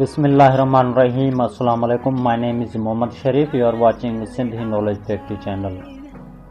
بسم الله الرحمن الرحيم السلام عليڪم my name is Muhammad Sharif you are watching Sindhi knowledge factory channel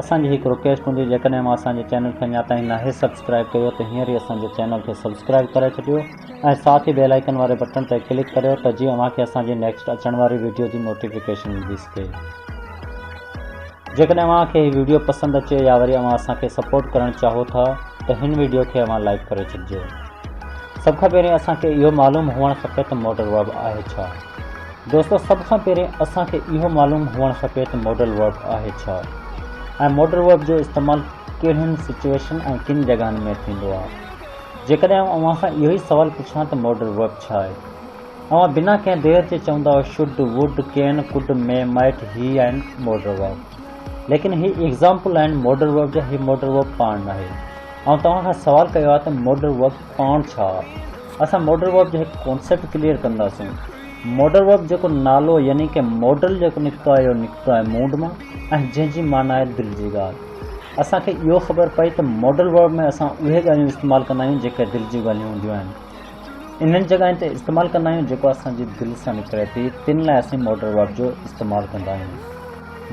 اسان جي هڪ رڪويسٽ هوندي جيڪڏهن اوهان اسان جي چينل کي اڃا تائين ناهي سبسڪرائيب ڪيو ته هينئر ئي اسان جي چينل کي سبسڪرائيب ڪري ڇڏيو ۽ ساٿ ئي بيل آئيڪن واري بٽڻ تي ڪلڪ ڪريو ته جيئن اوهان کي اسان جي نيڪسٽ اچڻ واري ويڊيو جي نوٽيفڪيشن ملي سگهي جيڪڏهن اوهان کي هي ويڊيو پسند اچي يا وري اوهان اسان کي سپورٽ ڪرڻ چاهو ٿا ته هن ويڊيو کي اوهان لائيڪ ڪري ڇڏجو سڀ کان پهرين اسان کي اهو معلوم هئڻ کپي ته موٽر ويب آهي ڇا. دوستو سڀ کان پهرين اسان کي اهو معلوم هئڻ کپي ته ماڊل ورب آهي ڇا ۽ ماڊل ورب جو استعمال ڪهڙين سچوئيشن ۽ ڪن جڳهن ۾ ٿيندو آهي جيڪڏهن آئون اوهان کان اهو ئي سوال پڇان ته ماڊل ورب ڇا آهي اوهان بنا ڪنهن دير جي چوندا should would can could may might هي آهن ماڊل ورب ليڪن هي ايگزامپل آهن ماڊل ورب جا هي ماڊل ورب پاڻ ناهي آئون توهان کان سوال ڪيو آهي ته ماڊل ورب پاڻ ڇا؟ اسان موڊل ورب جو هڪ ڪانسيپٽ ڪليئر ڪنداسون. موڊل ورب جيڪو نالو يعني ڪي موڊل جيڪو نڪتو آهي اهو نڪتو آهي موڊ مان ۽ جنهن جي معنيٰ آهي دل جي ڳالهه. اسان کي اهو خبر پئي ته موڊل ورب ۾ اسان اهي ڳالهيون استعمال ڪندا آهيون جيڪي دل جون ڳالهيون هونديون آهن. انهن جڳهين تي استعمال ڪندا آهيون جيڪو اسان جي دل سان نڪري ٿي تن لاء اسين موڊل ورب جو استعمال ڪندا آهيون.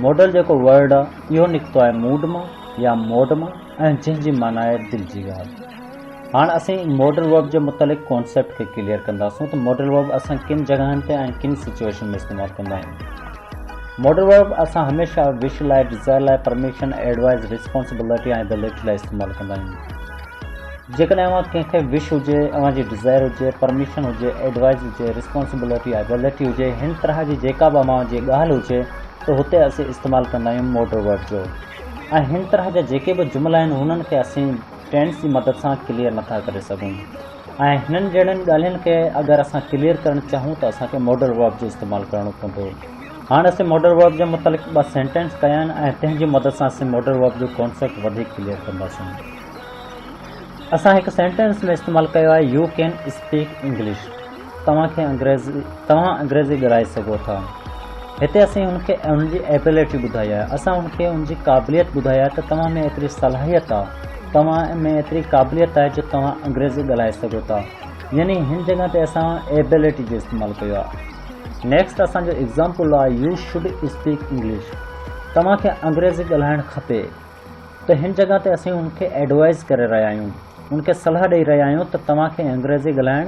موڊل جيڪو ورڊ آهي اهو نڪتو آهي موڊ مان يا موڊ مان ۽ جنهن جي معنيٰ آهي دل جي ڳالهه. هاڻ اسين ماڊل ورب جي متعلق ڪانسيپٽ کي ڪليئر ڪنداسون ته ماڊل ورب اسان ڪن جڳهن تي ۽ ڪن سچوئيشن ۾ استعمال ڪندا آهيون. ماڊل ورب اسان هميشه وش لاء، ڊزائر لاء، پرميشن، ايڊوائيز، ريسپانسبلٽي ۽ دي ليٽ لاء استعمال ڪندا آهيون. جيڪڏهن اوهان ڪنهن کي وش هجي، اوهان جي ڊزائر هجي، پرميشن هجي، ايڊوائيز هجي، ريسپانسبلٽي يا دي ليٽ هجي، هن طرح جي جيڪا به اوهان جي ڳالهه هجي ته هتي اسين استعمال ڪندا آهيون ماڊل ورب جو ۽ هن طرح جا جيڪي به جملا آهن هنن کي اسين ٽينٽس جي مدد سان ڪليئر نٿا ڪري سگهون ۽ هنن جهڙن ڳالهين کي اگر اسان ڪليئر ڪرڻ چاهون ته اسان کي ماڊل ورب جو استعمال ڪرڻو پوندو هاڻ اسين ماڊل ورب جي متعلق ٻه سينٽينس ڪيا آهن ۽ تنهن جي مدد سان اسين ماڊل ورب جو ڪانسيپٽ وڌيڪ ڪليئر ڪنداسون اسان هڪ سينٽينس ۾ استعمال ڪيو آهي يو ڪين اسپيڪ انگلش توهان کي انگريزي توهان انگريزي ڳالهائي سگهو ٿا هتي اسين هن کي هن جي ايبلٽي ٻڌائي آهي اسان هن کي هن جي قابليت ٻڌائي آهي ته توهان ۾ ايتري صلاحيت آهي توهان ۾ ايتري قابليت آهي جو توهان انگريزي ڳالهائي سگهو ٿا يعني هن جڳهه تي اسان ايبلٽي جو استعمال ڪيو آهي نيڪسٽ اسان جو ايگزامپل آهي يو شوڊ اسپيڪ انگلش توهان کي انگريزي ڳالهائڻ کپي ته هن جڳهه تي اسين هن کي ايڊوائز ڪري رهيا آهيون هن کي صلاح ڏئي رهيا آهيون ته توهان کي انگريزي ڳالهائڻ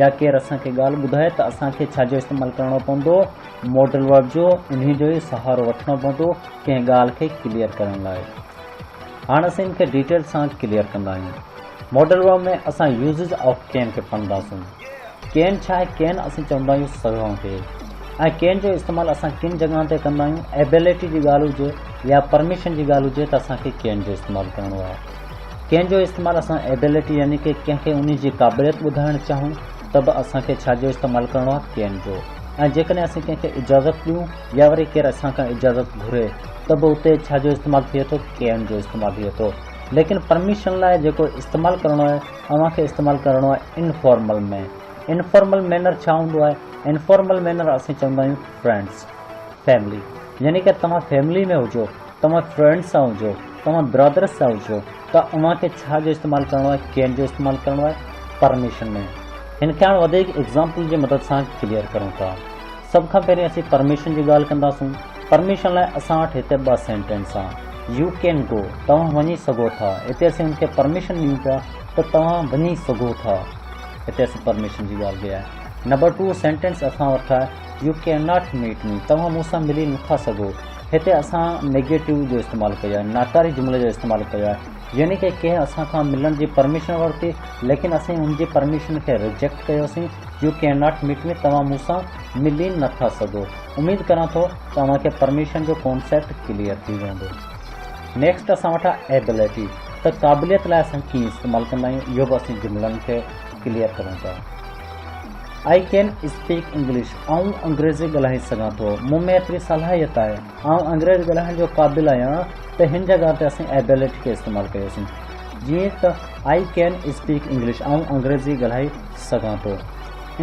يا ڪير اسان کي ڳالهه ٻڌائي ته اسان کي ڇا جو استعمال ڪرڻو پوندو، ماڊل ورڊ جو انهي جو ئي سهارو وٺڻو پوندو ڪنهن ڳالهه کي ڪليئر ڪرڻ لاء. هاڻ اسين ان کي ڊيٽيل سان ڪليئر ڪندا آهيون. ماڊل ورڊ ۾ اسان يوزز آف ڪين کي پڙهنداسون. ڪين ڇا آهي؟ ڪين اسين چوندا آهيون سگهان کي ۽ ڪين جو استعمال اسان ڪن جڳهن تي ڪندا آهيون. ايبيلٽي جي ڳالهه هجي يا پرميشن جي ڳالهه هجي ته اسان کي ڪين جو استعمال ڪرڻو آهي. ڪنهن جو استعمال اسان Ability يعني ڪي ڪنهن کي انهي جي قابليت ٻڌائڻ چاهون ته به اسان کي ڇا جو استعمال ڪرڻو آهي ڪين جو ۽ جيڪڏهن اسين ڪنهن کي اجازت ڏيون يا وري ڪير اسان کان اجازت گهري ته به اتي ڇا جو استعمال ٿئي ٿو ڪين جو استعمال ٿئي ٿو ليڪن پرميشن لاء جيڪو استعمال ڪرڻو آهي اوهان کي استعمال ڪرڻو آهي انفارمل ۾ انفارمل مينر ڇا هوندو آهي انفارمل مينر اسين چوندا آهيون فرينڊس فيملي يعني ڪي توهان فيملي ۾ هجو توهان فرينڊس سان هجو توهان برادرس سان هجو ته اوهان کي ڇا جو استعمال ڪرڻو آهي ڪين جو استعمال ڪرڻو آهي پرميشن ۾ هن کي هاڻ وڌيڪ ايگزامپل جي مدد سان ڪليئر ڪرون ٿا سڀ کان پهرين اسين پرميشن جي ڳالهه ڪنداسون پرميشن لاء اسان وٽ هتي ٻه سينٽينس آهن يو ڪين گو توهان وڃي سگهو ٿا هتي اسين هن کي پرميشن ڏيون پيا ته توهان وڃي سگهو ٿا هتي اسين پرميشن جي ڳالهه ڪئي آهي نمبر ٽو سينٽينس اسان وٽ آهي you can not meet me توهان مون سان ملي نٿا سگهو هتي اسان نيگيٽو جو استعمال ڪيو آهي ناڪاري جملي جو استعمال ڪيو آهي يعني ڪي ڪنهن اسان کان ملڻ جي پرميشن ورتي ليڪن اسين ان جي پرميشن کي ريجيڪٽ ڪيوسين you can not meet me توهان مون سان ملي نه ٿا سگهو اميد ڪران ٿو ته اوهان کي پرميشن جو ڪونسيپٽ ڪليئر ٿي ويندو نيڪسٽ اسان وٽ آهي ايبلٽي ته قابليت لاء اسان ڪيئن استعمال ڪندا آهيون اهو به اسين جملن کي ڪليئر ڪرون ٿا آئي ڪين اسپيڪ انگلش، آئون انگريزي ڳالهائي سگهان ٿو، مون ۾ ايتري صلاحيت آهي، آئون انگريز ڳالهائڻ جو قابل آهيان ته هن جڳهه تي اسين ابيلٽي کي استعمال ڪيوسين جيئن ته آئي ڪين اسپيڪ انگلش، آئون انگريزي ڳالهائي سگهان ٿو.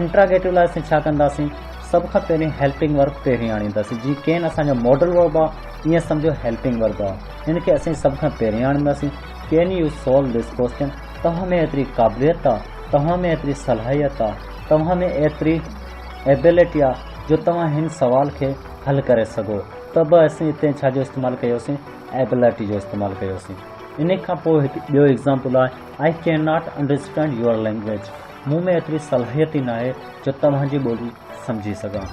انٽراگيٽو لاء اسين ڇا ڪنداسين؟ سڀ کان پهرين هيلپنگ ورب پهرين آڻينداسين، جيئن ڪين اسان جو ماڊل ورب آهي ائين سمجهو هيلپنگ ورب آهي، هن کي اسين سڀ کان پهرين آڻينداسين، can you solve this question? توهان ۾ ايتري قابليت آ، توهان ۾ ايتري صلاحيت آ، توهان ۾ ايتري Ability آ جو توهان هن سوال کي حل ڪري سگهو ته به اسين اتي ڇا جو استعمال ڪيوسين Ability جو استعمال ڪيوسين. انهي کان پوء هڪ ٻيو Example آهي I cannot understand your language مون ۾ ايتري صلاحيت ئي ناهي جو توهان جي ٻولي سمجهي سگهان.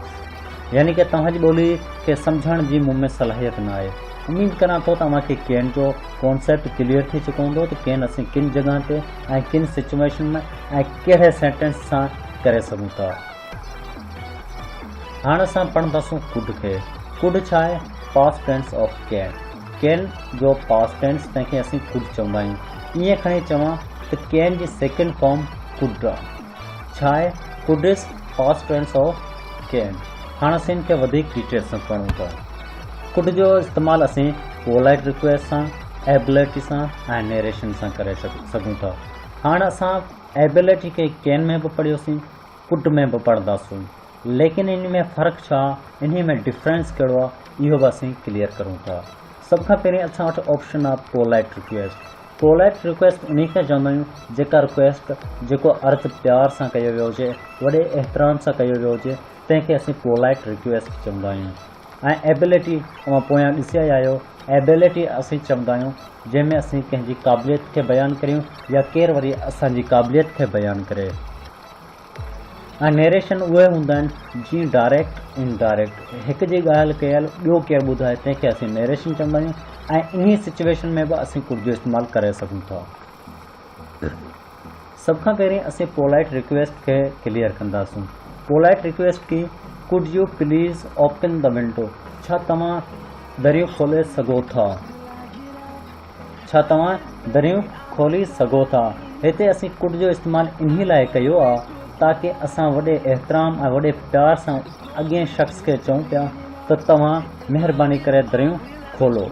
يعني ڪه توهان جي ٻولي کي سمجهڻ جي مون ۾ صلاحيت نه آهي. اميد ڪران ٿو ته اوهان کي ڪين جو ڪانسيپٽ ڪليئر ٿي چڪو هوندو ته ڪين اسين ڪن جڳهن تي ۽ ڪن سچوئيشن ۾ ۽ ڪهڙي سينٽينس سان ڪري سگهون ٿا. هاڻ اسان پڙهنداسون ڪوڊ کي. ڪوڊ ڇا آهي؟ Past tense of can. Can جو پاسٽ ٽينس تنهن کي اسين ڪوڊ چوندا آهيون. ائين کڻي چوان ته ڪين جي سيڪنڊ فارم ڪوڊ آهي. ڇاهي ڪوڊس پاسٽ ٽينس آف ڪين هاڻ اسين ان کي وڌيڪ ڊيٽيل سان پڙهون ٿا ڪوڊ جو استعمال اسين پولائٽ رڪويسٽ سان ايبلٽي سان ۽ نيريشن سان ڪري سگهون ٿا هاڻ اسان ايبلٽي کي ڪين ۾ به پڙهيوسين ڪوڊ ۾ به پڙهنداسون ليڪن ان ۾ فرق ڇا انهي ۾ ڊفرينس ڪهڙو آهي اهو به اسين ڪليئر ڪرون ٿا سڀ کان پهرين اسان وٽ آپشن آهي پولائٽ رڪويسٽ پولائيٽ ريڪويسٽ انهي کي چوندا آهيون جيڪا ريڪويسٽ جيڪو عرض پيار سان ڪيو ويو هجي وڏي احترام سان ڪيو ويو هجي تنهن کي اسين پولائيٽ ريڪويسٽ چوندا آهيون ۽ ايبلٽي اوهان پويان ڏسي آيا آهيو ايبلٽي اسين چوندا آهيون جنهن ۾ اسين ڪنهن جي قابليت کي بيان ڪريون يا ڪير وري اسان جي قابليت کي بيان ڪري. ۽ نيريشن اهي هوندا آهن جيئن ڊائريڪٽ ان ڊائريڪٽ هڪ جي ڳالهه ڪيل ٻيو ڪير ٻڌائي تنهن کي اسين نيريشن چوندا آهيون ۽ انهي سچويشن ۾ به اسين ڪڙ جو استعمال ڪري سگهون ٿا سڀ کان پهرين اسين پولائيٽ ريڪويسٽ کي ڪليئر ڪنداسون پولائيٽ ريڪويسٽ ڪي could you please open the window ڇا توهان دريو کولي سگهو ٿا. ڇا توهان دريون کولي سگهو ٿا؟ هتي اسين ڪوڏ جو استعمال انهي لاء ڪيو آ تاڪه اسان وڏي احترام ۽ وڏي پيار سان اڳئين شخص کي چئون پيا ته توهان مهرباني ڪري دريون کولو.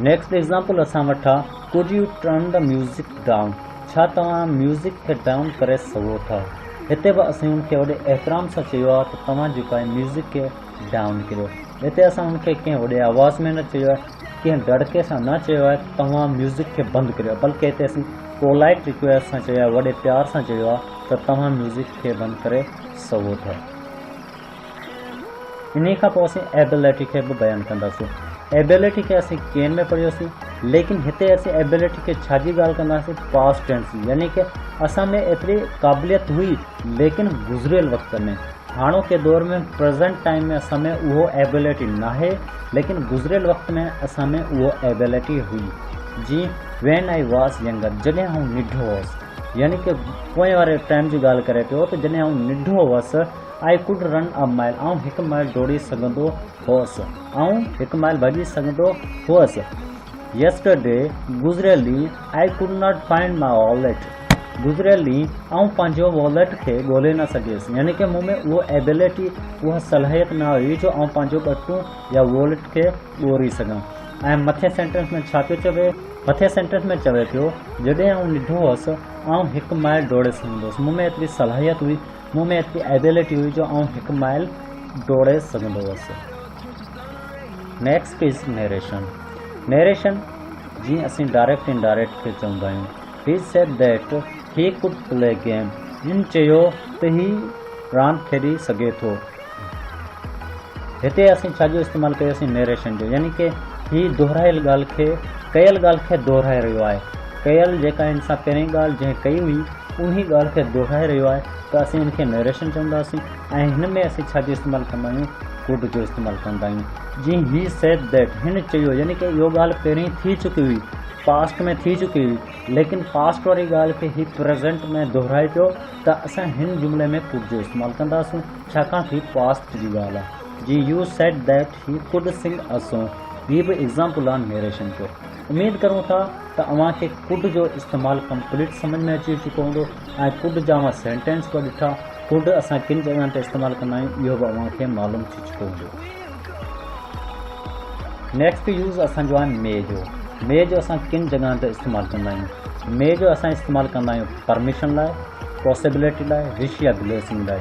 نيڪسٽ ايگزامپل اسان وٽ آ could you turn the music down? ڇا توهان ميوزڪ کي ڊائون ڪري سگهو ٿا؟ هتي به اسين هن کي وڏي احترام سان چيو آ ته توهان جيڪو آهي ميوزڪ کي ڊائون ڪريو. هتي اسان هن کي ڪنهن وڏي آواز ۾ نه چيو آهي. ڪنهن دڙڪي سان نه چيو آهي ته توهان ميوزڪ کي بند ڪريو بلڪه هتي اسين پولائيٽ ريڪويسٽ سان چيو آهي وڏي پيار سان چيو آهي ته توهان ميوزڪ کي بند ڪري سگهو ٿا انهي کان پوء اسين ايبيلٽي کي به بيان ڪنداسين ايبيلٽي کي اسين ڪين ۾ پڙهيوسين ليڪن هتي اسين ايبيلٽي کي ڇا جي ڳالهه ڪنداسين پاسٽ ٽينس جي يعني ڪه اسان ۾ ايتري قابليت هئي ليڪن گذريل وقت ۾ هاڻوڪي دور ۾ Present Time ۾ اسان ۾ اهو Ability ناهي ليڪن گذريل وقت ۾ اسان ۾ اهو Ability هئي جي When I was younger جڏهن آئون ننڍو هوس يعني ڪي پوئين واري ٽائيم جي ڳالهه ڪري پيو ته جڏهن آئون ننڍو هوس I could run a mile آئون هڪ مائل ڊوڙي سگهندو هوس آئون هڪ مائل ڀڄي سگهندو هوس Yesterday گذريل ڏينهن I could not find my wallet گذريل ڏينهن آئون پنهنجو واليٽ کي ڳولي نه سگهيس يعني ڪه مون ۾ اهو ايبليٽي اها صلاحيت نه هئي جو آئون پنهنجو ٻٽون يا واليٽ کي ڳوري سگهان ۽ مٿين سينٽينس ۾ ڇا پيو چوي مٿين سينٽينس ۾ چوي پيو جڏهن آئون ننڍو هوس آئون هڪ مائل ڊوڙي سگهندو هوس مون ۾ ايتري صلاحيت هئي مون ۾ ايتري ايبليٽي هئي جو آئون هڪ مائل ڊوڙي سگهندو هوس نيڪسٽ از نيريشن نيريشن جيئن اسين ڊائريڪٽ انڊائريڪٽ کي چوندا آهيون He said that he could play game. هن چيو ته هي راند کيڏي سگهي ٿو. هتي اسين ڇا جو استعمال ڪيوسين نيريشن جو يعني ڪي هي دهرايل ڳالهه کي ڪيل ڳالهه کي دهرائي رهيو آهي ڪيل جيڪا هن سان پهرين ڳالهه جنهن ڪئي هئي انهي ڳالهه کي دهرائي رهيو آهي ته اسين ان کي نيريشن چونداسين ۽ هن ۾ اسين ڇا جو استعمال ڪندا آهيون ڪوڊ جو استعمال ڪندا آهيون جي هي سيد ديٽ هن چيو يعني ڪي اهو ڳالهه پهرين ٿي چڪي هئي پاسٽ ۾ ٿي چڪي هئي ليڪن پاسٽ واري ڳالهه کي هي پريزنٽ ۾ دهرائي پيو ته اسان هن جملي ۾ ڪوڊ جو استعمال ڪنداسون ڇاڪاڻ ته هي پاسٽ جي ڳالهه آهي جيئن you said that he could sing a song هي به ايگزامپل آن نيريشن جو اميد ڪريون ٿا ته اوهان کي ڪوڊ جو استعمال ڪمپليٽ سمجهه ۾ اچي چڪو هوندو ۽ ڪوڊ جا اوهان سينٽينس به ڏٺا ڪوڊ اسان ڪن جڳهن تي استعمال ڪندا آهيون اهو به اوهان کي معلوم ٿي چڪو هوندو نيڪسٽ يوز اسان جو آهي مي جو مي جو اسان ڪن جڳهن تي استعمال ڪندا آهيون مي جو اسان استعمال ڪندا آهيون پرميشن لاء پاسبلٽي لاء وش يا بليسنگ لاء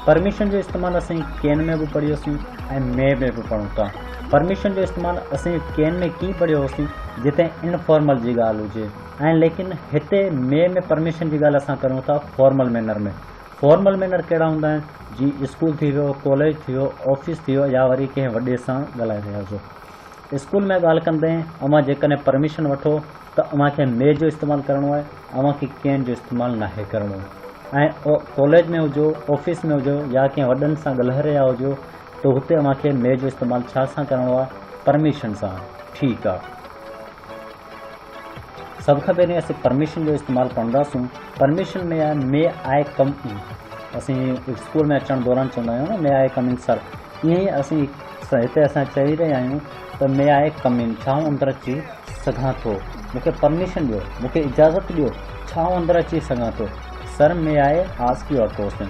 پرميشن جو استعمال اسين ڪين ۾ به پڙهيو سين ۽ مي ۾ به پڙهون ٿا پرميشن جو استعمال اسين ڪين ۾ ڪي پڙهيو هوسين جتي انفارمل جي ڳالهه هجي ۽ ليڪن هتي مي ۾ پرميشن جي ڳالهه اسان ڪريون ٿا فارمل مينر ۾ فارمل مينر ڪهڙا هوندا آهن جيئن اسڪول ٿي ويو ڪاليج ٿي ويو آفيس ٿي ويو يا وري ڪنهن وڏي سان ڳالهائي رهيا هجو اسڪول ۾ ڳالهه ڪندي اوهان جيڪڏهن پرميشن وٺو ته اوهان کي مي جو استعمال ڪرڻو آهي اوهان کي ڪين جو استعمال ناهي ڪرڻو ۽ ڪاليج ۾ هجو آفيس ۾ هجو يا ڪنهن وڏن سان ڳالهائي رهيا هجو ته هتي اوهان کي مي جو استعمال ڇا سان ڪرڻو آهي پرميشن سان ٺيڪ آهي سڀ کان پهرين اسين پرميشن جو استعمال ڪنداسون پرميشن ۾ آهي مي آء ڪم ان اسين اسڪول ۾ اچڻ دوران چوندا آهيون نه مي آء ڪم ان سر ائين ئي اسين هتي اسان چئي رهيا آهيون ته مي آء ڪم ان ڇا آئون اندر اچي سگهان ٿو مونکي پرميشن ڏيو مونکي اجازت ڏيو ڇا آئون اندر اچي سگهان ٿو sir may I ask you a question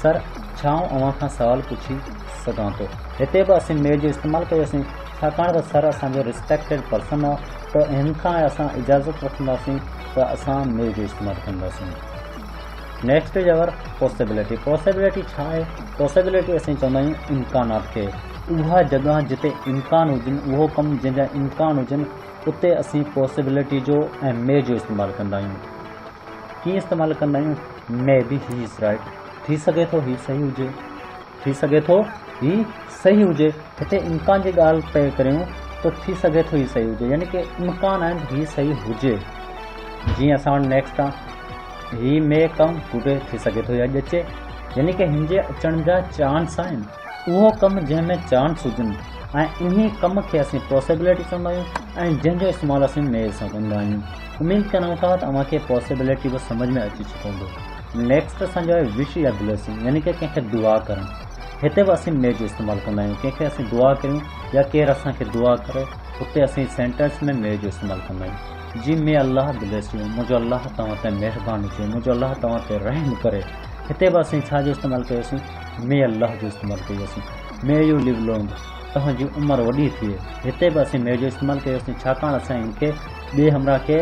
sir ڇا آئون اوهان کان سوال پڇي سگهان ٿو هتي به اسين مي جو استعمال ڪيوسين ڇاڪاڻ ته سر اسان جو ريسپيڪٽيڊ پرسن آ ته هن کان اسان اجازت وٺنداسين ته اسان مل جو استعمال ڪنداسين. نيڪسٽ يور پاسيبلٽي پاسيبلٽي ڇا آهي؟ پاسيبلٽي اسين چوندا آهيون امڪانات کي. اها جڳهه جتي امڪان هجن اهو ڪم جنهن جا امڪان هجن اتي اسين پاسيبلٽي جو ۽ مي جو استعمال ڪندا آهيون. ڪيئن استعمال ڪندا آهيون مي بي هي از رائيٽ ٿي سگهي ٿو هي صحيح هجي. ٿي سگهي ٿو هي صحيح هجي هتي امڪان جي ڳالهه پئي ڪريون ته ٿي سگهي ٿو هي صحيح هجي يعني ڪي امڪان آهن هي صحيح هجي جيئن اسان وٽ نيڪسٽ آ هي مي ڪم ٽوڊي ٿي سگهي ٿو هي اڄ اچي يعني ڪي هن جي اچڻ جا چانس آهن اهو ڪم جنهن ۾ چانس هجن ۽ انهي ڪم کي اسين پوسيبلٽي چوندا آهيون ۽ جنهن جو استعمال اسين مي سان ڪندا آهيون اميد ڪريون ٿا ته اوهان کي پوسيبلٽي به سمجھ ۾ اچي چڪو هوندو نيڪسٽ اسان جو آهي وش يا بليسنگ يعني ڪي ڪنهن کي دعا ڪرڻ هتي به اسين مي جو استعمال ڪندا آهيون ڪنهن کي اسين دعا ڪريون يا ڪير اسان کي دعا ڪري اتي اسين سينٽينس ۾ مي جو استعمال ڪندا آهيون جي مي الله بليس يو منهنجو الله توهان تي مهربان هجي منهنجو الله توهان تي رحم ڪري هتي به اسين ڇا جو استعمال ڪيوسين مي الله جو استعمال ڪيوسين مي يو ليو لونگ توهان جي عمر وڏي ٿئي هتي به اسين مي جو استعمال ڪيوسين ڇاڪاڻ اسان ان کي ٻئي همراهه کي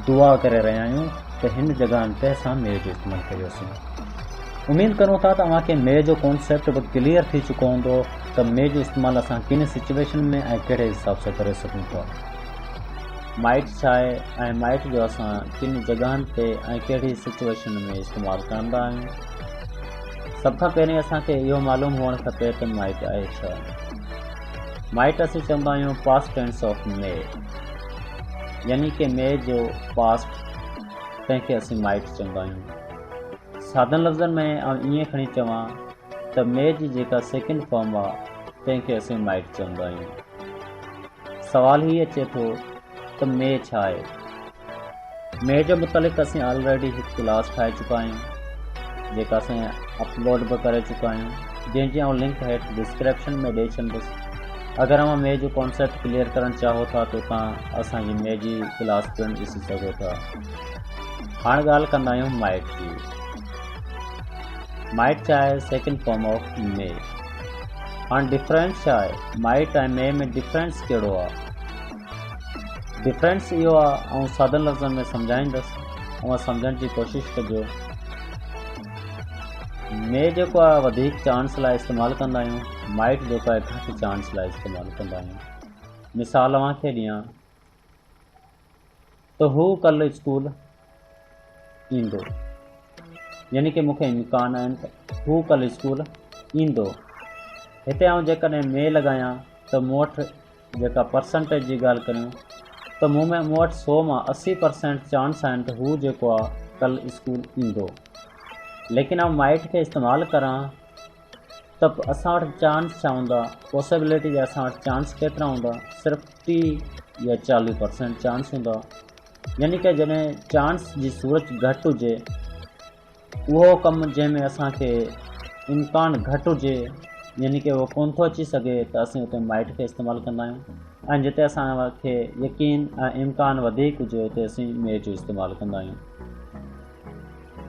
دعا ڪري رهيا آهيون ته هن جڳهن تي اسان ميء جو استعمال ڪيوسين. اميد ڪريون ٿا ته اوهان کي ميء جو ڪانسيپٽ به ڪليئر ٿي چڪو هوندو ته ميء جو استعمال اسان ڪن سچويشن ۾ ۽ ڪهڙي حساب سان ڪري سگهون ٿا. مائٽ ڇا آهي ۽ مائٽ جو اسان ڪن جڳهن تي ۽ ڪهڙي سچويشن ۾ استعمال ڪرندا آهيون. سڀ کان پهرين اسان کي اهو معلوم هئڻ کپي ته مائٽ آهي ڇا. مائٽ اسين چوندا آهيون پاسٽ ٽينس آف ميء يعني ڪي ميء جو پاسٽ تنهن کي اسين مائٽس چوندا آهيون. سادن لفظن ۾ آئون ائين کڻي چوان ته ميء جي جيڪا سيڪنڊ فارم آ تنهن کي اسين مائٽ چوندا آهيون. سوال هي اچي ٿو ته ميء ڇا آهي؟ ميء جي متعلق اسين آلريڊي هڪ ڪلاس ٺاهي چڪا آهيون جيڪا اسين اپلوڊ به ڪري چڪا آهيون جنهن جي آئون لنڪ هيٺ ڊسڪرپشن ۾ ڏئي ڇڏندس. اگر اوهان مي جو ڪانسيپٽ ڪليئر ڪرڻ چاهو ٿا ته توهان اسان جي مي جي ڪلاس پڻ ڏسي سگهو ٿا هاڻ ڳالهه ڪندا آهيون مائٽ جي مائٽ ڇا آهي سيڪنڊ فارم آف مي هاڻ ڊفرنس ڇا آهي مائٽ ۽ مي ۾ ڊفرنس ڪهڙو آهي ڊفرنس اهو آهي آئون سادن لفظن ۾ سمجهائيندس اوهان سمجهڻ جي ڪوشش ڪجو مي جيڪو آهي وڌيڪ چانس لاء استعمال ڪندا آهيون مائيڪ جوتا هڪ هٿ چانس لاء استعمال ڪندا آهيون. مثال اوهان کي ڏيان ته هو ڪلهه اسڪول ايندو. يعني ڪه مون کي امڪان آهن ته هو ڪلهه اسڪول ايندو. هتي آئون جيڪڏهن مي لڳايان ته مون وٽ جيڪا پرسنٽيج جي ڳالهه ڪريون ته مون ۾ مون وٽ سو مان اسي پرسينٽ چانس آهن ته هو جيڪو آهي ڪلهه اسڪول ايندو. ليڪن آئون مائيٽ کي استعمال ڪران. ته پوء اسان وٽ چانس ڇا هوندا؟ پاسيبلٽي جا اسان وٽ چانس ڪيترا هوندا؟ صرف ٽي يا چاليهه پرسينٽ چانس هوندا. يعني ته جڏهن چانس جي صورت گهٽ هجي، اهو ڪم جنهن ۾ اسان کي امڪان گهٽ هجي، يعني ته اهو ڪونه ٿو اچي سگهي ته اسين اتي مائٽ کي استعمال ڪندا آهيون ۽ جتي اسان کي يقين ۽ امڪان وڌيڪ هجي اتي اسين ميء جو استعمال ڪندا آهيون.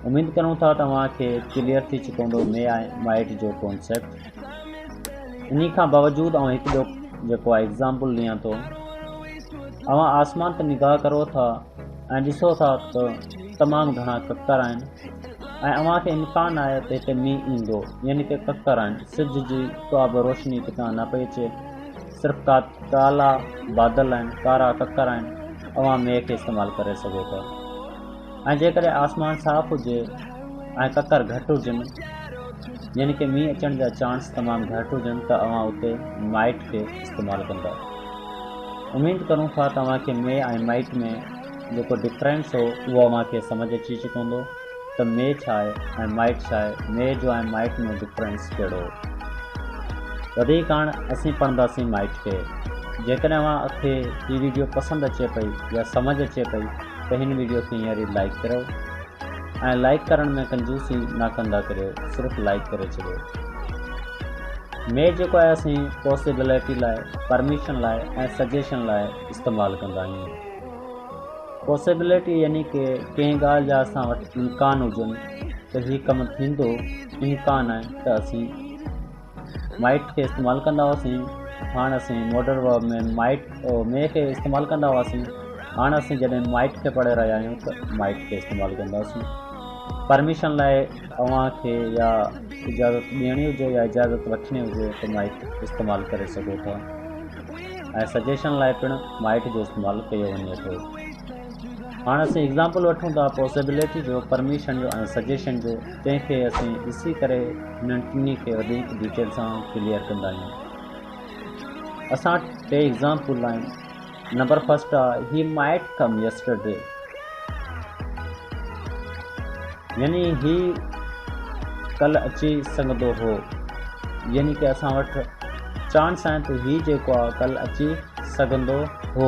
اميد ڪرون ٿا توهان کي ڪليئر ٿي چڪو هوندو مي آء مائٽ جو ڪانسيپٽ انهي کان باوجود آئون هڪ ڏو جيڪو آء ايگزامپل ڏيان ٿو اوهان آسمان تي نگاهه ڪرو ٿا ۽ ڏسو ٿا ته تمام گهڻا ڪڪر آهن ۽ اوهان کي امڪان آهي ته هتي مينهن ايندو يعني ڪي ڪڪر آهن سج جي ڪا به روشني ڪٿان نه پئي اچي صرف ڪا ڪالا بادل آهن ڪارا ڪڪر آهن اوهان مينهن کي استعمال ڪري سگهو ٿا ۽ جيڪڏهن آسمان صاف هجي ۽ ڪڪر گهٽ هجن يعني ڪي مينهن اچڻ جا چانس تمام گهٽ هجن ته اوهان اتي مائٽ کي استعمال ڪندا اميد ڪرون ٿا ته اوهان کي مي ۽ مائٽ ۾ جيڪو ڊفرينس هو اهو اوهان کي سمجهه اچي چڪو هوندو ته مي ڇا آهي ۽ مائٽ ڇا آهي مي جو ۽ مائٽ ۾ ڊفرينس ڪهڙو هو وڌيڪ هاڻ اسين پڙهنداسين مائٽ کي جيڪڏهن اوهان کي هي ويڊيو پسند اچي پئي يا سمجهه اچي پئي ته هن ويڊيو کي هينئر ئي لائيڪ ڪريو ۽ لائيڪ ڪرڻ ۾ ڪنجوسي نه ڪندا ڪريو صرف لائيڪ ڪري ڇڏيو ميل جيڪو آهي اسين پوسٽيبلٽي لاء پرميشن لاء ۽ سجيشن لاء استعمال ڪندا آهيون پوسيبلٽي يعني ڪي ڪنهن ڳالهه جا اسان وٽ امڪان هجن ته هي ڪم ٿيندو امڪان آهي ته اسين مائٽ کي استعمال ڪندا هئاسين هاڻ اسين ماڊرن ورلڊ ۾ مائٽ مي کي استعمال ڪندا هئاسين هاڻ اسين جڏهن مائٽ کي پڙهي رهيا آهيون ته مائٽ کي استعمال ڪنداسين پرميشن لاء اوهان کي يا اجازت ڏيڻي هجي يا اجازت وٺڻي هجي ته مائٽ استعمال ڪري سگهو ٿا ۽ سجيشن لاء پڻ مائٽ جو استعمال ڪيو وڃي ٿو هاڻ اسين ايگزامپل وٺون ٿا پوسيبلٽي جو پرميشن جو ۽ سجيشن جو تنهن کي اسين ڏسي ڪري هنن ٽنهي کي وڌيڪ ڊيٽيل سان ڪليئر ڪندا آهيون. اسان وٽ ٽي ايگزامپل آهن. نمبر فرسٽ آ هي مائٽ ڪم يسٽرڊي يعني هي ڪل اچي سگهندو هو يعني ڪي اسان وٽ چانس آهن ته هي جيڪو آ ڪل اچي سگهندو هو.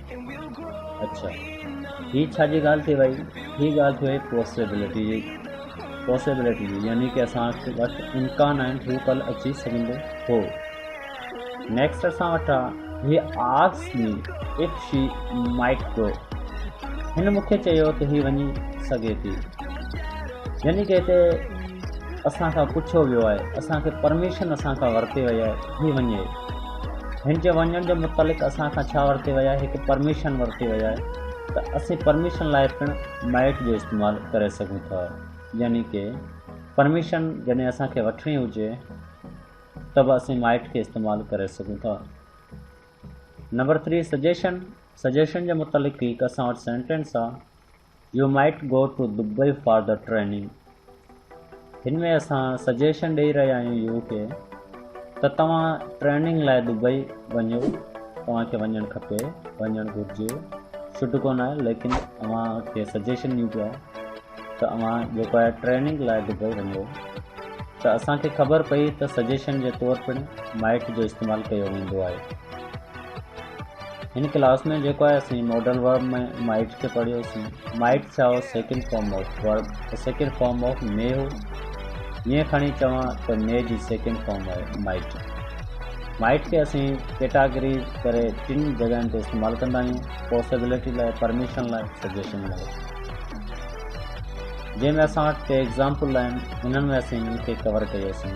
اڇا هي ڇا جي ڳالهه ٿي وئي هي ڳالهه ٿي وئي پوسيبلٽي جي پوسيبلٽي جي يعني ڪي اسان وٽ امڪان آهن هو ڪل اچي سگهندو هو نيڪسٽ اسان وٽ آهي هي آس مي اف شي مائٽ گو هن مونکي چيو ته هي وڃي سگهي ٿي يعني ڪي هتي اسان کان پڇيو ويو آهي اسان کي پرميشن اسان کان ورتي وئي آهي هي وڃي هن جي وڃڻ جي متعلق اسان کان ڇا ورتي وئي آهي هڪ پرميشن ورتي وئي آهي ته اسين پرميشن لاء پڻ مائٽ جو استعمال ڪري سگهون ٿا يعني ڪي پرميشن جڏهن اسان کي وٺڻي هجي ته به اسين مائٽ کي استعمال ڪري سگهون ٿا نمبر ٿري سجيشن سجيشن جي متعلق هڪ اسان وٽ سينٽينس آهي you might go to Dubai for the training هن ۾ اسان سجيشن ڏيئي رهيا آهيون يو کي ته توهان ٽريننگ لاء دبئي وڃو توهان کي وڃڻ کپي وڃڻ گهرجي شڊ ڪون آهي ليڪن اوهان کي سجيشن ڏيون پيا ته اوهان جيڪو آهي ٽريننگ لاء دبئي وڃو ته اسان کي خبر پئي ته سجيشن جي طور پڻ مائٽ جو استعمال ڪيو ويندو آهي هن ڪلاس ۾ جيڪو آهي اسين ماڊل ورب ۾ مائٽ کي پڙهيوسين مائٽ ڇا هو second form of verb second form of may هو ائين کڻي چوان ته مي جي سيڪنڊ فارم آهي مائٽ مائٽ کي اسين ڪيٽاگريز ڪري ٽن جڳهن تي استعمال ڪندا آهيون پوسيبلٽي لاء پرميشن لاء سجيشن لاء جنهن ۾ اسان وٽ ٽي ايگزامپل آهن انهن ۾ اسين هن کي ڪور ڪيوسين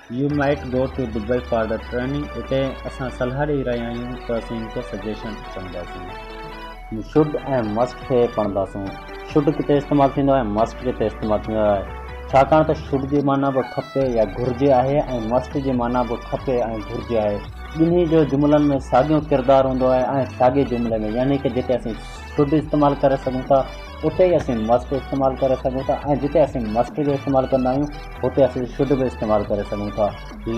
you might go to Dubai for the training اتي اسان صلاح ڏئي رهيا آهيون ته اسين هڪ سجيشن چونداسون. شوڊ ۽ مسٽ کي پڙهنداسون. شوڊ ڪٿي استعمال ٿيندو آهي ۽ مسٽ ڪٿي استعمال ٿيندو آهي ڇاڪاڻ ته شوڊ جي معنيٰ به کپي يا گهرجي آهي ۽ مسٽ جي معنيٰ به کپي ۽ گهرجي آهي ٻنهي جو جملن ۾ ساڳيو ڪردار هوندو آهي ۽ ساڳي جملي ۾ يعني ته جتي اسين شوڊ استعمال ڪري سگهون ٿا اتي ئي اسين مسٽ استعمال ڪري سگهون ٿا ۽ جتي اسين مسٽ جو استعمال ڪندا آهيون هتي اسين شڊ به استعمال ڪري سگهون ٿا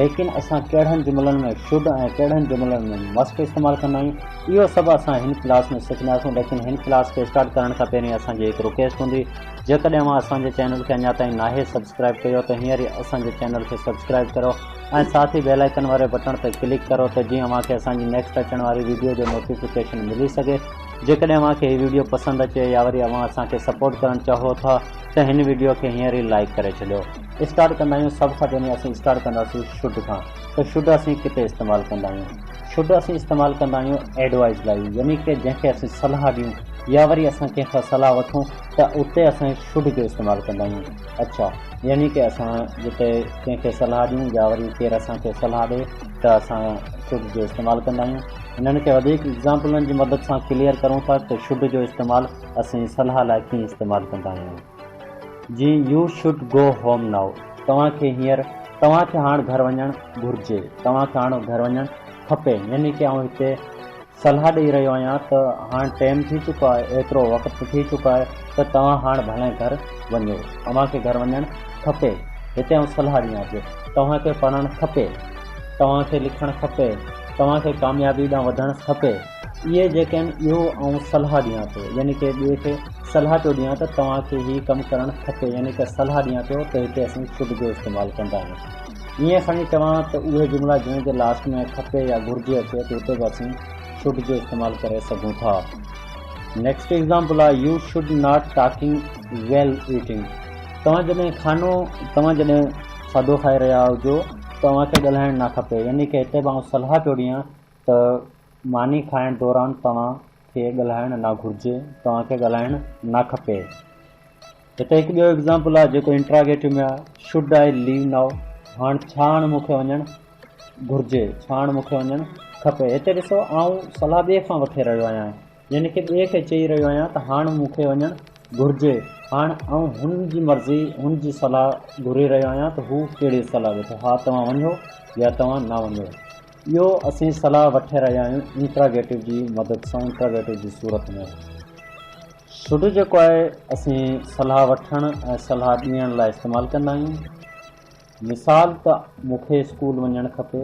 ليڪن اسان ڪهڙن جملن ۾ شڊ ۽ ڪهڙن جملن ۾ مسٽ استعمال ڪندا آهيون اهو سڀ اسان هن ڪلاس ۾ سکنداسون ليڪن هن ڪلاس کي اسٽارٽ ڪرڻ کان پهرين اسان جي هڪ رڪويسٽ هوندي جيڪڏهن اوهان اسان جي چينل کي اڃا تائين ناهي سبسڪرائب ڪيو ته هينئر ئي اسان جي چينل کي سبسڪرائب ڪريو ۽ ساٿ ئي بيل آئيڪن واري بٽڻ تي ڪلڪ ڪريو ته جيئن اوهان کي اسان جي نيڪسٽ اچڻ واري ويڊيو جو نوٽيفڪيشن ملي سگهي جيڪڏهن اوهان کي هي ويڊيو پسند اچي يا وري اوهان اسان کي سپورٽ ڪرڻ چاهو ٿا ته هن ويڊيو کي هينئر ئي لائيڪ ڪري ڇڏيو. اسٽارٽ ڪندا آهيون سڀ کان پهرين اسين اسٽارٽ ڪنداسين شڊ کان ته شڊ اسين ڪٿي استعمال ڪندا آهيون شڊ اسين استعمال ڪندا آهيون ايڊوائيز لاء يعني ڪي جنهن کي اسين صلاح ڏيون يا وري اسان ڪنهن کان صلاح وٺون ته اتي اسان شڊ جو استعمال ڪندا آهيون اڇا يعني ڪي اسان جتي ڪنهن کي صلاح ڏيون يا وري ڪير اسان کي صلاح ڏي ته اسان شڊ جو استعمال ڪندا آهيون انهن کي وڌيڪ ايگزامپلن جي مدد سان ڪليئر ڪرون ٿا ته شڊ جو استعمال اسين صلاح لاء ڪيئن استعمال ڪندا آهيون جي you should go home now توهان کي هينئر توهان کي هاڻ گهر وڃڻ گهرجي توهان کي هاڻ گهر وڃڻ کپي يعني ڪي آئون هتي صلاح ڏئي رهيو آهيان ته هاڻ ٽيم ٿي چڪو آهي ايترو وقت ٿي چڪو آهي ته توهان هاڻ ڀلائين گهر وڃو اوهان کي گهر وڃڻ کپي هتي آئون صلاح ڏيان ٿي توهان کي پڙهڻ کپي توهان کي لکڻ کپي توهان کي ڪاميابي ڏانهن وڌڻ کپي اهي جيڪي آهن اهو آئون صلاح ڏيان ٿو يعني ڪنهن ٻئي کي صلاح پيو ڏيان ته توهان کي هي ڪم ڪرڻ کپي يعني ڪا صلاح ڏيان پيو ته هتي اسين خود جو استعمال ڪندا آهيون ائين ساڻي چوان ته اهي جملا جنهن جي لاسٽ ۾ کپي يا گهرجي اچي ته هتي به اسين شوڊ جو استعمال ڪري سگهون ٿا نيڪسٽ ايگزامپل آهي you should not talking while eating توهان جڏهن کانو توهان جڏهن کاڌو کائي رهيا هجو ته اوهان کي ڳالهائڻ نه کپي يعني ڪي هتي به آئون صلاح پيو ڏيان ته ماني کائڻ دوران توهان کي ڳالهائڻ نه گهرجي، توهان کي ڳالهائڻ نه کپي. هتي هڪ ٻيو ايگزامپل آهي جيڪو انٽراگيٽو ۾ آهي، Should I leave now؟ هاڻ ڇا هاڻ مون کي وڃڻ گهرجي، ڇا هاڻ مون کي وڃڻ کپي. هتي ڏسو آئون صلاح ٻئي کان وٺي رهيو آهيان. يعني ڪنهن ٻئي کي چئي رهيو آهيان ته هاڻ مون کي وڃڻ گهرجي. هاڻ آئون هن جي مرضي، هن جي صلاح گهري رهيو آهيان ته هو ڪهڙي صلاح ڏئي ٿو. ها توهان وڃو يا توهان نه وڃو. اهو اسين صلاح وٺي رهيا آهيون انٽراگيٽو جي مدد سان، انٽراگيٽو جي صورت ۾. شڊ جيڪو آهي اسين صلاح وٺڻ ۽ صلاح ڏيڻ لاء استعمال ڪندا آهيون. مثال ته مون کي اسڪول وڃڻ کپي.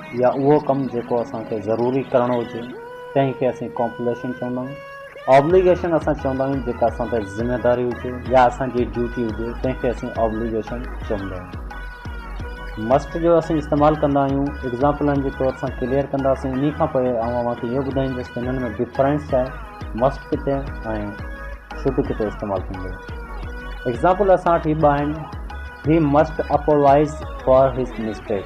يا اهو ڪم جيڪو اسان کي ضروري ڪرڻو هجي تنهن کي اسين ڪومپليشن چوندا آهيون. آبليگيشن اسان چوندا آهيون جيڪا اسان تي ذميواري هجي يا اسان جي ڊيوٽي هجي تنهن کي اسين آبليگيشن چوندا آهيون. مسٽ جو اسين استعمال ڪندا آهيون ايگزامپلن جي طور سان ڪليئر ڪنداسين انهي کان پوء آئون اوهان کي اهو ٻڌائيندس ته انهن ۾ ڊفرنس ڇا آهي مسٽ ڪٿي ۽ شڊ ڪٿي استعمال ٿيندو. ايگزامپل اسان وٽ هي ٻه آهن he must apologise for his mistake.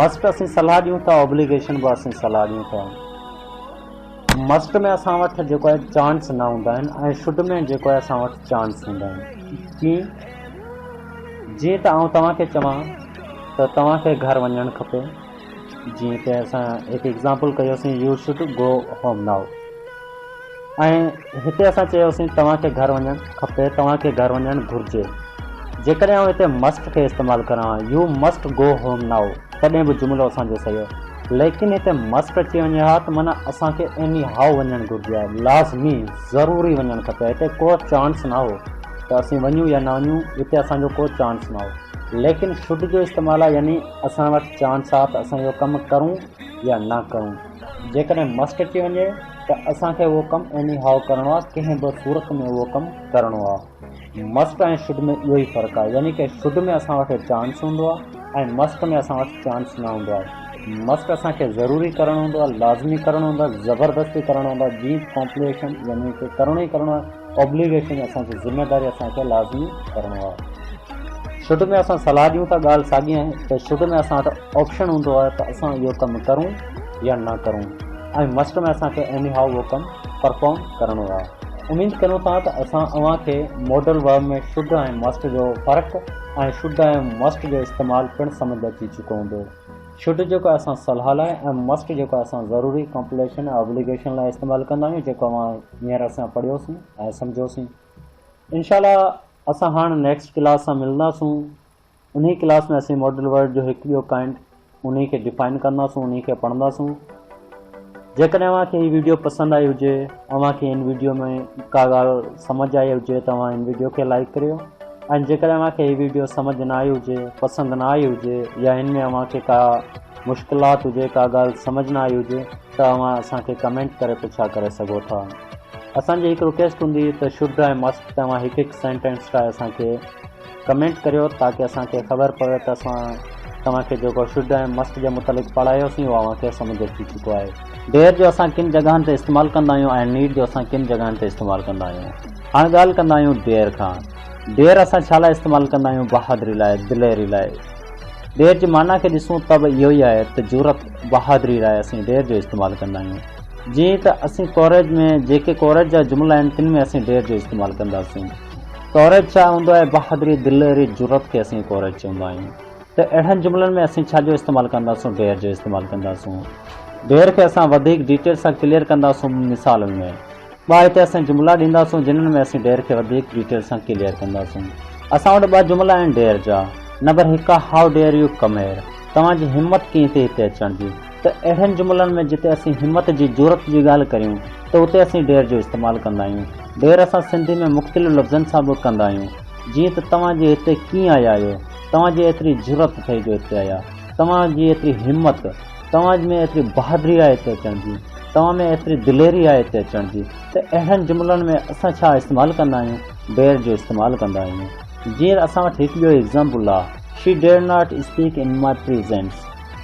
Must اسين صلاح ڏيون ٿا اوبليگيشن به اسين صلاح ڏيون ٿا مسٽ ۾ اسان وٽ جيڪو آهي چانس نه هوندا آهن ۽ شڊ ۾ جيڪو آهي اسان وٽ چانس هوندا آهن ڪيئن جيئن ته آئون توهان کي چوان ته توهان کي گهر وڃڻ کپي جيئن ته اسان هڪ ايگزامپل ڪيوسين you should go home now ۽ هتي اسان چيوسين توهان کي گهر وڃڻ کپي توهان کي گهر وڃڻ گهرجي جيڪڏهن آئون هتي مسٽ کي استعمال ڪران ها you must go home now تڏهن به جملو اسان جو صحيح هو ليڪن هتي مسٽ اچي وڃي ها ته معنيٰ اسان کي ايني هائو وڃڻ گهرجي ها لازمي ضروري وڃڻ کپي ها هتي ڪو چانس نه هو ته اسين وڃون يا نه وڃون هتي اسان جو ڪو چانس نه هو ليڪن شڊ جو استعمال ها يعني اسان وٽ چانس ها ته اسان اهو ڪم ڪرون يا نه ڪرون. جيڪڏهن مسٽ اچي وڃي ته اسان کي اهو ڪم ايني هاء ڪرڻو آهي ڪنهن به صورت ۾ اهو ڪم ڪرڻو آهي مسٽ ۽ شڊ ۾ اهو ئي فرق آهي يعني ڪه شڊ ۾ اسان وٽ چانس هوندو آهي ۽ مسٽ ۾ اسان وٽ چانس نه هوندو آهي مسٽ اسان کي ضروري ڪرڻو هوندو آهي لازمي ڪرڻو هوندو آهي زبردستي ڪرڻو هوندو آهي جي ڪمپليشن يعني ڪه ڪرڻو ئي ڪرڻو آهي Obligation اسان کي ذميواري اسان کي لازمي ڪرڻو آهي. شروع ۾ اسان صلاح ڏيون ٿا ڳالهه ساڳي آهي ته شروع ۾ اسان وٽ آپشن هوندو آهي ته اسان اهو ڪم ڪرون يا نه ڪرون ۽ مسٽ ۾ اسان کي ايني هائو اهو ڪم پرفارم ڪرڻو آهي. اميد ڪريون ٿا ته اسان اوهان کي ماڊل ورب ۾ شروع ۽ مسٽ جو فرق ۽ شروع ۽ مسٽ جو استعمال پڻ سمجهه اچي چڪو هوندو. شروع جيڪو اسان صلاح لاء ۽ مسٽ جيڪو اسان ضروري ڪمپليشن ۽ Obligation لاء استعمال ڪندا آهيون جيڪو اوهان هينئر اسان پڙهيوسون ۽ سمجهيوسين انشاء الله اسان هاڻ نيڪسٽ ڪلاس سان ملنداسون انهي ڪلاس ۾ اسين ماڊل ورڊ جو هڪ ٻيو ڪائنڊ انهي کي ڊيفائن ڪنداسون انهي کي پڙهنداسون جيڪڏهن اوهان کي هي ويڊيو پسند آئي هجي اوهان کي ان ويڊيو ۾ ڪا ڳالهه سمجھ آئي هجي ته اوهان ان ويڊيو کي لائڪ ڪريو ۽ جيڪڏهن اوهان کي هي ويڊيو سمجھ نه آئي هجي پسند نه آئي هجي يا هن ۾ اوهان کي ڪا مشڪلات هجي ڪا ڳالهه سمجھ نه آئي هجي ته اوهان اسان کي ڪمينٽ ڪري پڇا ڪري سگهو ٿا اسان جي هڪ رڪيسٽ هوندي ته شڊ ۽ مسٽ تي اوهان هڪ هڪ سينٽينس ٺاهي اسان کي ڪمينٽ ڪريو تاڪي اسان کي خبر پوي ته اسان توهان کي جيڪو شڊ ۽ مسٽ جي متعلق پڙهايوسين اهو اوهان کي سمجهه اچي چڪو آهي ڊيئر جو اسان ڪن جڳهن تي استعمال ڪندا آهيون ۽ نيڊ جو اسان ڪن جڳهن تي استعمال ڪندا آهيون هاڻ ڳالهه ڪندا آهيون ڊيئر کان ڊيئر اسان ڇا لاء استعمال ڪندا آهيون بهادري لاء دليري لاء. ڊير جي معنيٰ کي ڏسون ته به اهو ئي آهي ته جرئت، بهادري لاء اسين ڊير جو استعمال ڪندا آهيون. جيئن ته اسين ڪوريج ۾ جيڪي ڪوريج جا جملا آهن تن ۾ اسين ڊير جو استعمال ڪنداسين. ڪوريج ڇا هوندو آهي؟ بهادري، دليري، جرئت کي اسين ڪوريج چوندا آهيون. ته اهڙن جملن ۾ اسين ڇا جو استعمال ڪنداسون؟ ڊير جو استعمال ڪنداسون. ڊير کي اسان وڌيڪ ڊيٽيل سان ڪليئر ڪنداسون مثالن ۾. ٻه هتي اسين جملا ڏينداسون جنھن ۾ اسين ڊيئر کي وڌيڪ ڊيٽيل سان ڪليئر ڪنداسون. اسان وٽ ٻه جملا آهن ڊيئر جا. نمبر هڪ آهي how dare you come here? توهان جي همت ڪيئن ٿي هتي اچڻ جي؟ ته اهڙن جملن ۾ جتي اسين همت جي، جرئت جي ڳالهه ڪريون ته اتي اسين ڊيئر جو استعمال ڪندا آهيون. ڊيئر اسان سنڌي ۾ مختلف لفظن سان به ڪندا آهيون. جيئن ته توهان جي هتي ڪيئن آيا آهيو؟ توهان جي ايتري جرئت اٿئي جو هتي آيا؟ توهان جي ايتري همت؟ توهان ۾ ايتري بهادري آهي اتي اچڻ جي، توهان ۾ ايتري دليري آهي اتي اچڻ جي ته اهڙن جملن ۾ اسان ڇا استعمال ڪندا آهيون، Dare جو استعمال ڪندا آهيون. جيئن اسان وٽ هڪ ٻيو ايگزامپل آهي، She dare not speak in my presence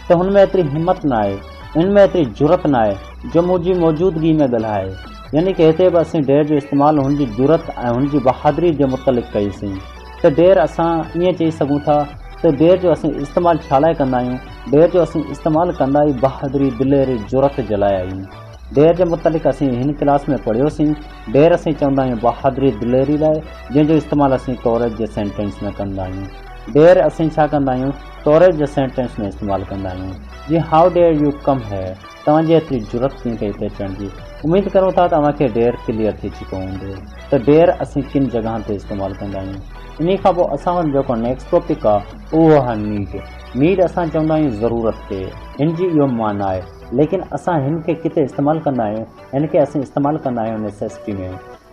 ته هن ۾ ايتري همت ناهي، هن ۾ ايتري جرئت ناهي جو منهنجي موجودگي ۾ ڳالهائي. يعني ڪه هتي به اسين Dare جو استعمال هن جي جرئت ۽ هن جي بهادري جي متعلق ڪئي سين ته Dare اسان ائين چئي سگهون ٿا ته Dare جو اسين استعمال ڇا لاء ڪندا آهيون؟ دير جو اسين استعمال ڪندا ئي بهادري، دليري، جرئت جي لاء آهيون. دير جي متعلق اسين هن ڪلاس ۾ پڙهيوسين. دير اسين چوندا آهيون بهادري، دليري لاء، جنهن جو استعمال اسين ڪوريج جي سينٽينس ۾ ڪندا آهيون. Dare اسين ڇا ڪندا آهيون؟ ڪوريج جي سينٽينس ۾ استعمال ڪندا آهيون. جيئن How dare you come here؟ توهان جي ايتري جرئت ڪيئن ڪئي هتي اچڻ جي؟ اميد ڪريون ٿا ته اوهان کي Dare ڪليئر ٿي چڪو هوندو ته Dare اسين ڪن جڳهن تي استعمال ڪندا آهيون. انهي کان پوء اسان وٽ جيڪو نيڪسٽ ٽاپڪ آهي اهو آهي Need. مير اسان چوندا آهيون ضرورت تي هن جي اهو معنيٰ آهي ليڪن اسان هن کي ڪٿي استعمال ڪندا آهيون هن کي اسين استعمال ڪندا آهيون نيسيسٽي ۾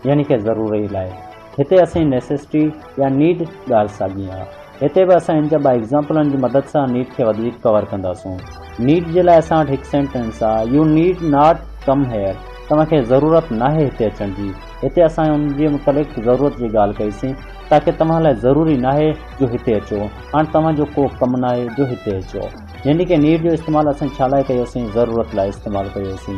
يعني ڪنهن ضروري لاء هتي اسين نيسيسٽي يا نيڊ ڳالهه ساڳي آهي هتي به اسان هن جا ٻه ايگزامپلن جي مدد سان نيڊ کي وڌيڪ ڪور ڪنداسون نيڊ جي لاء اسان وٽ هڪ سينٽينس آهي you need not come here توهان کي ضرورت ناهي هتي اچڻ جي هتي اسان ان جي متعلق ضرورت جي ڳالهه ڪئي سين تاڪه توهان لاء ضروري ناهي جو هتي اچو، هاڻ توهان جو ڪو ڪم ناهي جو هتي اچو. يعني ڪي نيڊ جو استعمال اسين ڇا لاء ڪيو سين ضرورت لاء استعمال ڪيو سين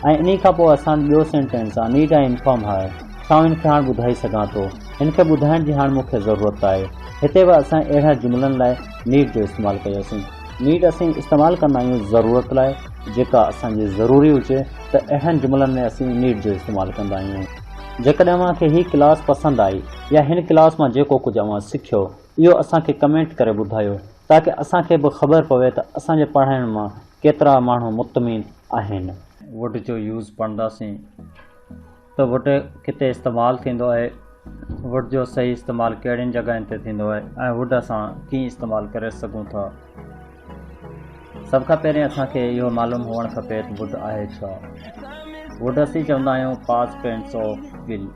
۽ انهي کان پوء اسان ٻيو سينٽينس آ نيڊ آئي انفارم هر ڇا آئون هن کي هاڻ ٻڌائي سگهان ٿو هن کي ٻڌائڻ جي هاڻ مون کي ضرورت آهي هتي به اسان اهڙن جملن لاء نيڊ جو استعمال ڪيو سين. نيڊ اسين استعمال ڪندا آهيون ضرورت لاء جيڪا اسان جي ضروري هجي ته اهڙن جملن ۾ اسين نيڊ جو استعمال ڪندا آهيون. جيڪڏهن اوهان کي هي ڪلاس پسند آئي يا هن ڪلاس مان جيڪو ڪجهه اوهان سکيو اهو اسان کي ڪمينٽ ڪري ٻڌايو تاڪه اسان کي به خبر پوي ته اسان جي پڙهائڻ مان ڪيترا ماڻهو مطمئن آهن. Would جو يوز پڙهنداسين ته Would ڪٿي استعمال ٿيندو آهي، Would جو صحيح استعمال ڪهڙين جڳهين تي ٿيندو آهي ۽ Would اسان ڪيئن استعمال ڪري سگهون ٿا. سڀ کان پهرين اسان کي اهو معلوم هئڻ کپي ته ووڊ آهي ڇا؟ ووڊ اسين چوندا آهيون پاس ٽينس آف ول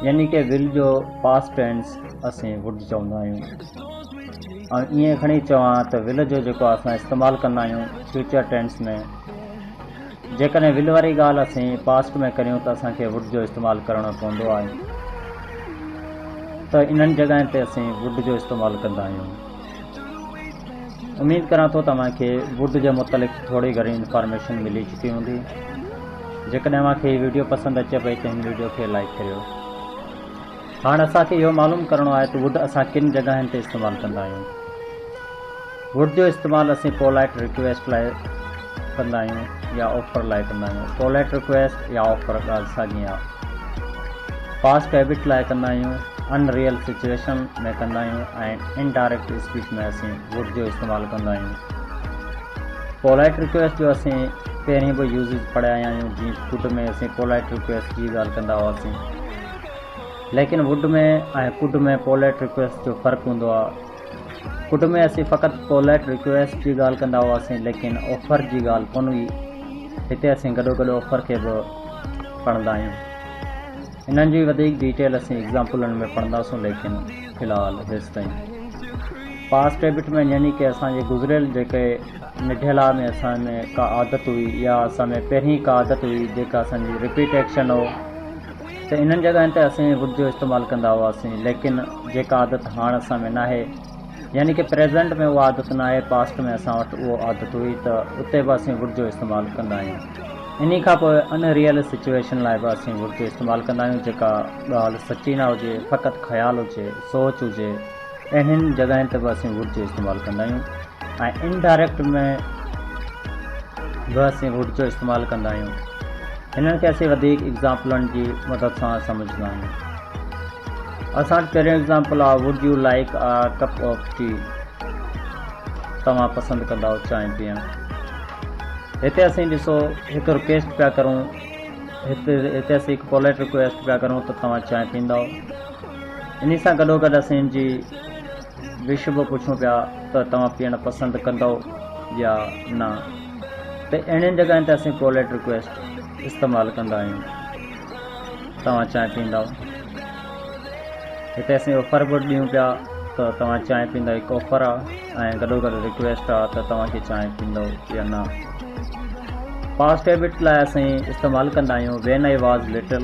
يعني ڪي ول جو پاس ٽينس اسين ووڊ چوندا آهيون ۽ ائين کڻي چوان ته ول جو جيڪو اسان استعمال ڪندا آهيون فيوچر ٽينس ۾ جيڪڏهن ول واري ڳالهه اسين پاسٽ ۾ ڪريون ته اسان کي ووڊ جو استعمال ڪرڻو پوندو آهي ته انهن جڳهن تي اسين ووڊ جو استعمال ڪندا آهيون اميد ڪران ٿو توهان کي ووڊ جي متعلق ٿوري گهڻي انفارميشن ملي چڪي هوندي جيڪڏهن اوهان کي هي ويڊيو پسند اچي پئي ته هن ويڊيو کي لائڪ ڪريو هاڻ اسان کي اهو معلوم ڪرڻو آهي ته ووڊ اسان ڪن جڳهين تي استعمال ڪندا آهيون ووڊ جو استعمال اسين پولائٽ رڪويسٽ لاء ڪندا آهيون يا آفر لاء ڪندا آهيون پولائيٽ رڪويسٽ يا آفر ڳالهه ساڳي آهي پاسٽ هيبٽ لاء ڪندا آهيون ان ريئل سچويشن ۾ ڪندا آهيون ۽ ان ڊائريڪٽ اسپيچ ۾ اسين ووڊ جو استعمال ڪندا آهيون پولائيٽ رڪويسٽ جو اسين پهرين به يوزز پڙهيا آهيون جيئن ڪڊ ۾ اسين پولائيٽ رڪويسٽ جي ڳالهه ڪندا هئاسين ليڪن ووڊ ۾ ۽ ڪڊ ۾ پولائيٽ رڪويسٽ جو فرق هوندو آهي ڪٽ ۾ اسين فقط پولائيٽ رڪويسٽ جي ڳالهه ڪندا هئاسين ليڪن آفر جي ڳالهه ڪونه هئي هتي اسين گڏو گڏ آفر کي به پڙهندا آهيون انهن جي وڌيڪ ڊيٽيل اسين ايگزامپلن ۾ پڙهنداسون ليڪن في الحال هيس تائين پاس ڊيبٽ ۾ يعني ڪي اسان جي گذريل جيڪي نڍيلا ۾ اسان ۾ ڪا عادت هئي يا اسان ۾ پهرين ڪا عادت هئي جيڪا اسان جي رپيٽ ايڪشن هو ته انهن جڳهن تي اسين ووڊ جو استعمال ڪندا هئاسين ليڪن جيڪا عادت هاڻ اسان ۾ ناهي يعني ڪه پريزنٽ ۾ اها عادت ناهي پاسٽ ۾ اسان وٽ اهو عادت هئي ته اتي به اسين ووڊ جو استعمال ڪندا آهيون انهي کان پوء ان ريئل سچوئيشن لاء به اسين ووڊ جو استعمال ڪندا آهيون جيڪا ڳالهه سچي نه هجي فقط خيال هجي سوچ هجي اهڙين جڳهين تي به اسين ووڊ جو استعمال ڪندا آهيون ۽ ان ڊائريڪٽ ۾ به اسين ووڊ جو استعمال ڪندا آهيون هنن کي اسين وڌيڪ ايگزامپلن جي مدد سان سمجهندا آهيون اسان وٽ پهريون ايگزامپل آهي would you like a cup of tea توهان پسند ڪندا چانهه پيئڻ هتي اسين ڏسو هڪ رڪويسٽ پيا ڪرون هتي هتي اسين هڪ پولائٽ رڪويسٽ پيا ڪرون ته توهان چانهه پيئندا انهي سان گڏوگڏ اسين ان جي وش به پڇون پيا ته توهان پيئڻ پسند ڪندؤ يا نه ته اهڙين جڳهين تي اسين پوليٽ رڪويسٽ استعمال ڪندا آهيون توهان چانهه پيئندؤ هتي اسين آفر به ڏيون پيا ته توهان چانهه پيئندا هڪ آفر آهي ۽ گڏوگڏ رڪويسٽ آهي ته توهان کي چانهه پيئندؤ يا نه پاسٽ هيبٽ لاء اسين استعمال ڪندا آهيون وين آئي واز لٽل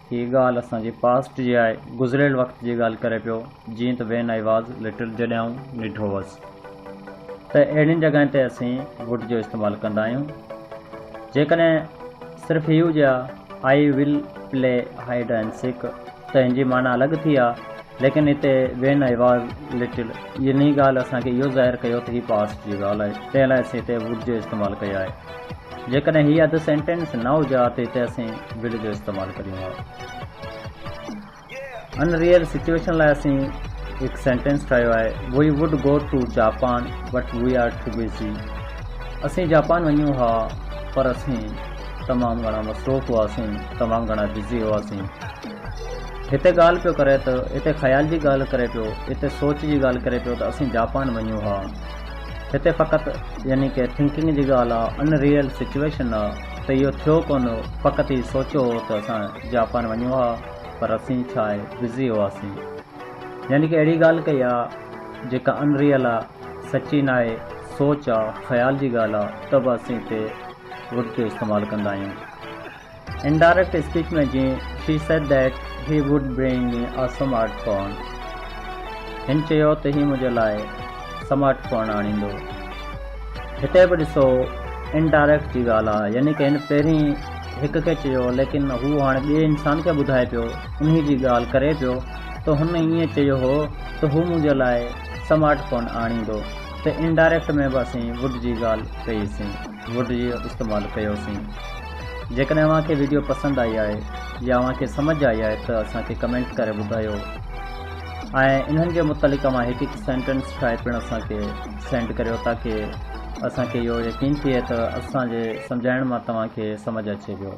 هيء ڳالهه اسان جي پاسٽ جي آهي، گذريل وقت جي ڳالهه ڪري پيو، جيئن ته وين آء واز لٽل جڏهن آئون ننڍو هوس ته اهڙين جڳهين تي اسين ووڊ جو استعمال ڪندا آهيون. جيڪڏهن صرف هي هجي ها I will play hide and seek ته هن جي معنيٰ الڳ ٿي ها، ليڪن هتي وين آء واز لٽل جي انهيء ڳالهه اسان کي اهو ظاهر ڪيو ته هي پاسٽ جي ڳالهه آهي، تنهن لاء اسين هتي ووڊ جو استعمال ڪيو آهي. جيڪڏهن هي اڌ سينٽينس نه هجي ها ته هتي اسين ول جو استعمال ڪريون ها. ان ريئل سچويشن لاء اسين هڪ سينٽينس ٺاهيو آهي، we would go to Japan but we are too busy. اسين جاپان وڃون ها پر اسين تمام گهڻا مصروف هئاسين، تمام گهڻا بزي هئاسين. هتي ڳالهه پيو ڪري ته هتي خيال جي ڳالهه ڪري پيو، هتي سوچ جي ڳالهه ڪري پيو ته اسين جاپان وڃون ها. هتي فقط يعني ڪي ٿنڪنگ جي ڳالهه آ ان ريئل سچويشن آ ته اهو ٿيو ڪونه هو فقط هي سوچيو هو ته اسان جاپان وڃون ها پر اسين ڇا آهي بزي هئاسين يعني ڪي اهڙي ڳالهه ڪئي آ جيڪا ان ريئل آ سچي ناهي سوچ آ خيال جي ڳالهه آ ته به اسين هتي ووڊ جو استعمال ڪندا آهيون. Indirect speech ۾ جي She said that he would bring me a smart phone هن چيو ته هي منهنجي لاء سمارٽ فون آڻيندو هتي به ڏسو Indirect جي ڳالهه آهي يعني ڪنهن پهرين هڪ کي چيو ليڪن هو هاڻي ٻئي انسان کي ٻڌائي پيو انهي جي ڳالهه ڪري پيو ته هن ائين چيو هو ته هو منهنجي لاء سمارٽ فون آڻيندو ته Indirect ۾ به اسين Would جي ڳالهه ڪئي سين. ووڊ جي استعمال ڪيوسين جيڪڏهن اوهان کي ويڊيو پسند آئي آهي يا اوهان کي سمجھ آئي آهي ته اسان کي ڪمينٽ ڪري ٻڌايو ۽ انهن جي متعلق اوهان هڪ هڪ سينٽينس ٺاهي پڻ اسان کي سينڊ ڪريو تاڪي اسان کي اهو يقين ٿئي ته اسان جي سمجھائڻ مان توهان کي سمجھ اچي ويو